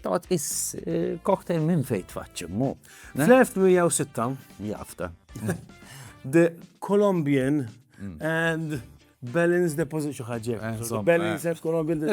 Taqgħod tqis cocktail minn fejn tfaċċi, mhu? Fl-1806, jafta, the Colombian and Balance Deposit xi ħaġa. Eh, Balance eh. and Colombian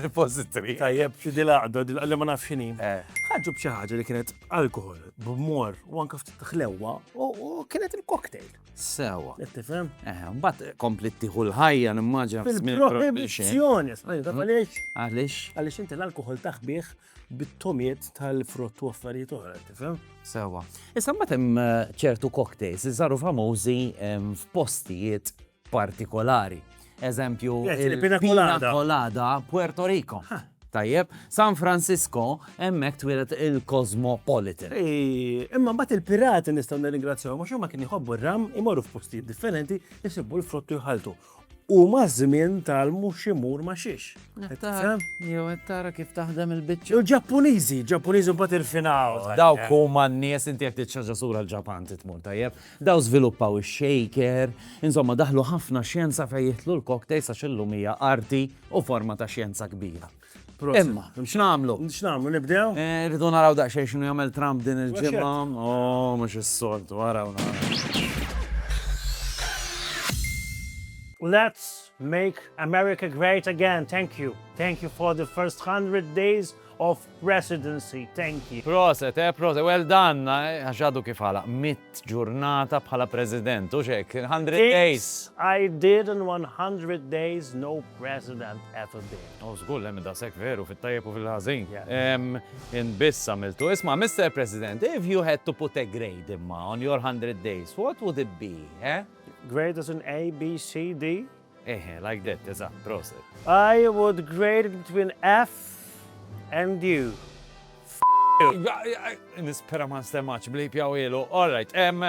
Depository. Tajjeb, xi dilaqda, dilaqda ma nafx x'inhi. Eh. Ħaġu b'xi ħaġa li kienet alkohol, b'mor, u anke ftit ħlewwa, u kienet il-cocktail. Sewa. Qed tifhem? Eh, mbagħad kompli tieħu l-ħajja nimmaġina f'żmien prohibizzjoni. Għaliex? Għaliex? Għaliex inti l-alkohol taħbih bit-tomiet tal-frott u affarijiet oħra, tifhem? Sewa. Issa mbagħad hemm eh, ċertu cocktails iżaru famużi ehm, f'postijiet partikolari. Eżempju, il-Pina Colada, Puerto Rico. Tajjeb, San Francisco, hemmhekk twieled il-Cosmopolitan. Imma mbagħad il-pirati nistgħu nirringrazzjahom għax huma kien jħobbu r-ram, imorru f'postijiet differenti, jsibu l-frott u jħalltu. U maż-żmien tgħallmu x'imur ma' xiex. Jew qed tara kif taħdem il-biċċa. U l-Ġappuniżi, Ġappuniżi mbagħad irfinaw. Dawk huma n-nies inti jekk trid xi ħaġa sura l-Ġapan trid tmur tajjeb. Dawn żviluppaw ix-shaker, insomma daħħlu ħafna xjenza fejn jidħlu l-cocktails għax illum hija arti u forma ta' xjenza kbira. Imma, x'nagħmlu? X'nagħmlu, nibdew? Eh, rridu naraw daqsxejn x'inhu jagħmel Trump din il-ġimgħa. Oh, mhux is-soltu, araw Let's make America great again. Thank you. Thank you for the first 100 days of presidency. Thank you. Proset, eh, proset, well done, eh, għax għadu kif għala, mit ġurnata bħala president, u xek, 100 days. I did in 100 days no president ever been. U zgull, hemm da sek veru fit-tajjeb u fil-ħazin. In bissa miltu. Isma, Mr. President, if you had to put a grade imma on your 100 days, what would it be, eh? Grade is an A, B, C, D? Eħe, like that, eżatt, proset. I would grade it between F and U. F you. Nispera ma nstemax bli pjaw ilu. All right, em,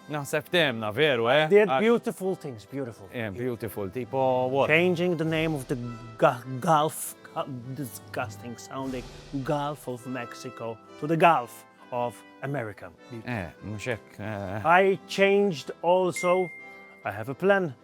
naħseb temna, veru, eh? Did Għax- beautiful things, beautiful. Eh, beautiful, tipo what? Changing the name of the gu- Gulf, gu- disgusting sounding Gulf of Mexico to the Gulf of America. Eh, mhux hekk. eh. I changed also, I have a plan,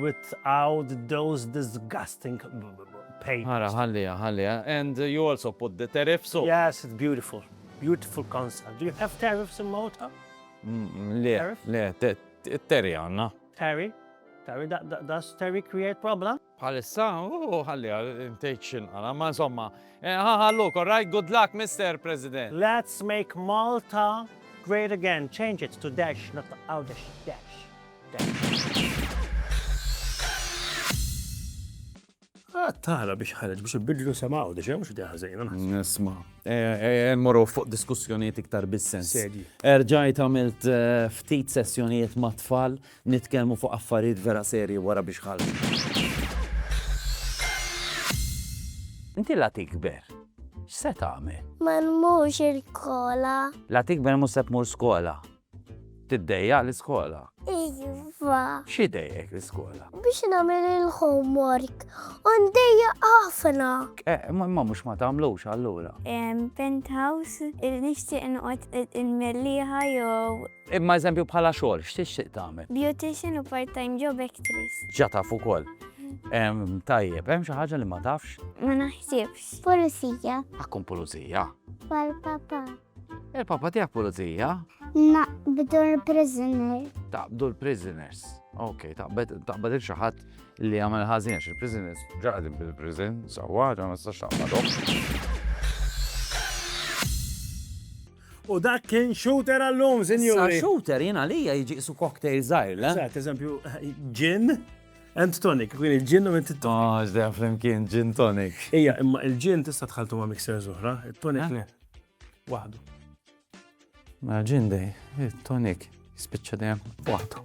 without those disgusting papers. Ara, ħalliha, ħalliha. And you also put the tariffs u. Yes, it's beautiful. Beautiful concept. Do you have tariffs in Malta? Le, le, terri għanna. Terri? Terri, does terri create problem? Bħalissa, u ħalli għal intention għala, ma insomma. Eh, Ħalluk, all right, good luck, Mr. President. Let's make Malta great again. Change it to dash, not Għawdex, dash. Għad tara biex ħareġ biex il-bidlu semaw, diġa mux diħazina. Nisma. Morru fuq diskussjoniet iktar bis-sens. Erġajt għamilt eh, ftit sessjoniet ma' tfal, nitkelmu fuq affarijiet vera serji wara biex ħareġ. Inti la tikber. X'se tagħmel? Ma nmux il-kola. La tikber mhux se tmur skola. Tiddejjaq l-iskola? Iva. X'ijdejjqek l-iskola? Biex nagħmel il-homework u ndejjaq ħafna. Eh, imma mhux ma tagħmlux allura? Penthouse, nixtieq noqgħod il-Mellieħa jew. Imma eżempju bħala xogħol, x'tixtieq tagħmel? Beautician u part-time job hekk trid. Ġa taf ukoll. Tajjeb, hemm xi ħaġa li ma tafx? Ma naħsibx. Pulizija. Ħa tkun pulizija. Bħal papà. Il-papa tiegħek pulizija? Naqbdu l-prisoners. Taqbdu l-prisoners. Ok, taqbad il xaħat li għamil ħazin għax il-prisoners ġaqdim bil-prison, sawa, ġa ma stax taqbadhom. U dak kien shooter għallum, sinjuri. Sa shooter jena lija jġiqsu cocktail zaħir, la? Zaħt, eżempju, gin and tonic, kien il-gin u minn tittu. Ah, ġdeja flimkien, gin tonic. Ija, imma il-gin tista tħaltu ma mixer zuħra, il-tonic ne. waħdu. Mela ġindej, il-tonik jispiċċa dejjem waħdu.